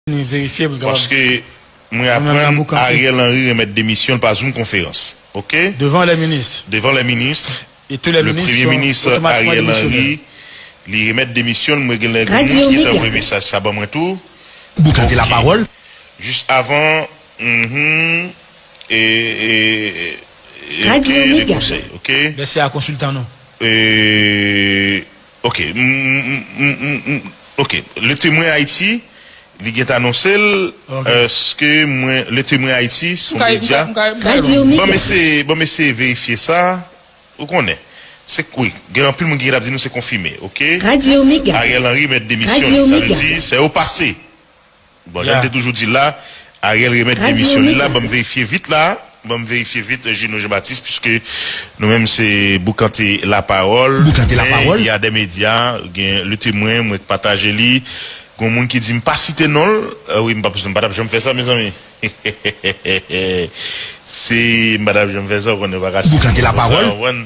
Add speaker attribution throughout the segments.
Speaker 1: Paske
Speaker 2: mwen aprann Ariel Henry remèt demisyon l pa zoom konferans ok
Speaker 1: devan lè ministre
Speaker 2: le premye
Speaker 1: minis Ariel
Speaker 2: Henry li remèt demisyon l mwen gen lè gen moun ki te anvoye mesaj sa ban mwen tou ok
Speaker 3: jis avan
Speaker 2: humm
Speaker 4: eee ok de konsèy
Speaker 2: ok eee. Ok m m ok Le Témoin Haïti li gentan anonse l eske mwen Le Témoin Haïti son medya bon m eseye bon m eseye verifye sa ou konnen se k wi gen anpil moun ki gentan ap di nou se konfime ok Ariel
Speaker 4: Henry mèt demisyon
Speaker 2: li sa vle di sè yo pase. Bon jan te toujou di la Ariel remet demisyon li la banm verifye vit la banm verifye vit Gino Jean Baptiste puiske nou menm se boukante la pawol men ya
Speaker 3: de media
Speaker 2: gen le temwen mwen t pataje li gon moun ki dim pa site nonl wi m pa m patap janm fè sa mezanmi heheheheh se m patap janm fè sa ou konnen m paka site moun konsa ou konprann.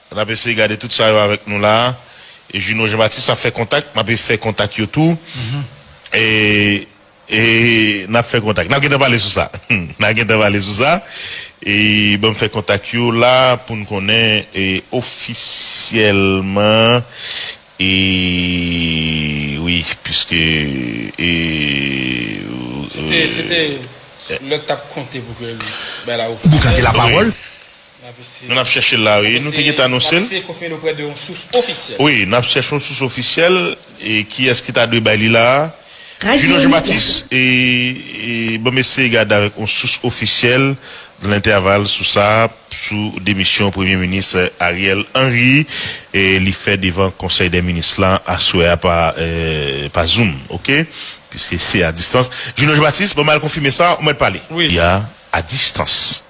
Speaker 2: N ap eseye gade tout sa yo avèk nou la a. Juno Jean Baptiste ap fè kontak, m ap e fè kontak yo tou. E, e, n ap fè kontak. N ap gentan pale sou sa. N a gentan pale sou sa. E, ban m fè kontak yo la pou n konnen e ofisyèlman e, wi, piske e,
Speaker 1: e. Se te, se te lè k t ap konte pou ke l bay la ofisyèl. Bouka
Speaker 3: te lapawòl. Nou
Speaker 2: nap chèche l la wi. Nou te gentan anonse l.
Speaker 1: Wi, nap chèche yon sous
Speaker 2: ofisyèl e kiyès ki ta dwe bay li la a. Junio Jean Baptiste, Bon m eseye gade avèk yon sous ofisyèl nan entèval sou sa, sou demisyon Premye Minis Ariel Henry li fè devan Konsèy dè Minis la aswè a pa zoom ok piske se a distans. Junio Jean Baptiste, Bon m al konfime sa ou mèt pale. Li a a distans.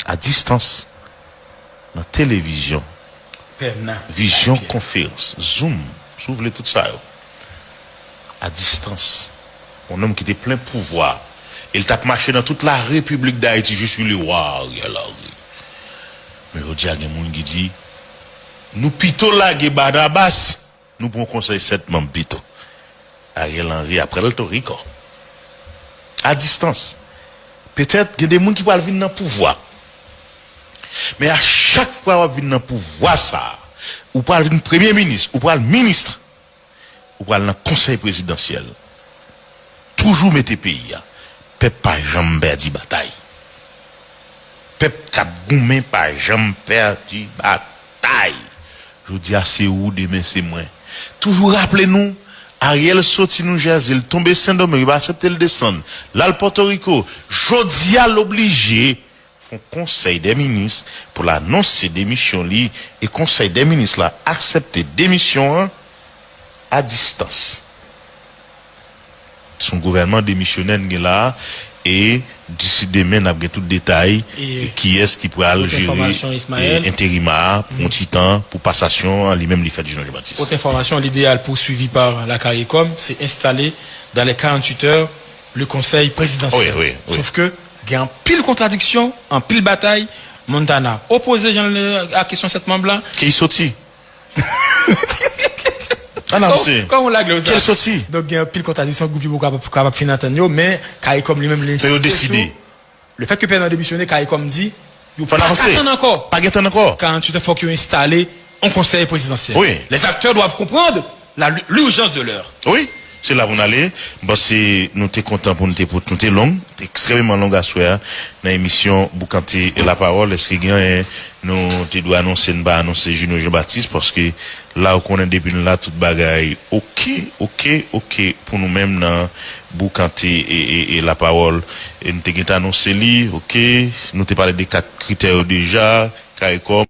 Speaker 2: a distans, nan televizyon, vizyon konferans, zoom, si w vle tout sa yo, a distans, yon nonm ki te plen pouvwa e l t ap mache nan tout la Repiblik Dayiti, je suis le roi Ariel Henry. Men jodi a gen moun ki di, nou pito lage Barnabas. Nou pran konsèy 7 manm pito. Ariel Henry ap pral to Rico. A distans. Petèt gen de moun ki pral vin nan pouvwa. Men a chak fwa wap vin nan pouvwa sa, ou pral vin premye minis, ou pral ministre, ou pral nan konsèy prezidansyèl. Toujou mete peyi a. Pèp pa janm pèdi batay. Pèp kap goumen pa janm pèdi batay. Tay! Jodi a se ou, demen se mwen. Toujou raple nou, Ariel soti New Jersey, l tonbe Sen Domeng, yo pa aksepte l desann, l al Pòtoriko. Jodi a l oblije fè yon Konsèy dè Minis pou l anonse demisyon li e Konsèy dè Minis la aksepte demisyon an a distans. Se yon gouvènman demisyonè n gen la a e disi demen n ap gen tout detay kiyès ki pral jere enterima a pou yon ti tan pou pasasyon an li menm li fèt Jean Jan Batis. Autre information, L'idéal
Speaker 1: poursuivi par la Caricom, c'est installer dans les 48 heures le Conseil Présidentiel. Sauf que
Speaker 2: gen
Speaker 1: anpil contradiction, anpil batay, Montana opposé jan l a kesyon 7 manb la. Ke li soti?
Speaker 2: An avse. Kòm ou lage yo sa. Ki el soti?
Speaker 1: Donk gen
Speaker 2: anpil kontradisyon
Speaker 1: gwoup Yobo kapab fin antann yo men Caricom li menm li ensiste sou. Yo deside.
Speaker 2: Le fèt ke Pènal
Speaker 1: demisyone Caricom di yo pa ka tann
Speaker 2: ankò. Pa gen tann ankò. 48 è fòk yo enstale
Speaker 1: yon konsèy prezidansyèl. Wi. Les acteurs doivent
Speaker 2: comprendre.
Speaker 1: La l'urgence de l'heure. Wi, se la pou n
Speaker 2: ale. M panse nou te kontan pou nou te pou nou te long, nou te ekstrèmeman long aswè a nan emisyon Boukante Lapawòl. Èske gen anyen nou te dwe anonse n pa anonse Junio Jean Baptiste? Paske la ou konnen depi n la tout bagay oke, oke, oke pou nou menm nan Boukante Lapawòl. E nou te gentan anonse li oke. Nou te pale de 4 kritè yo deja, caricom.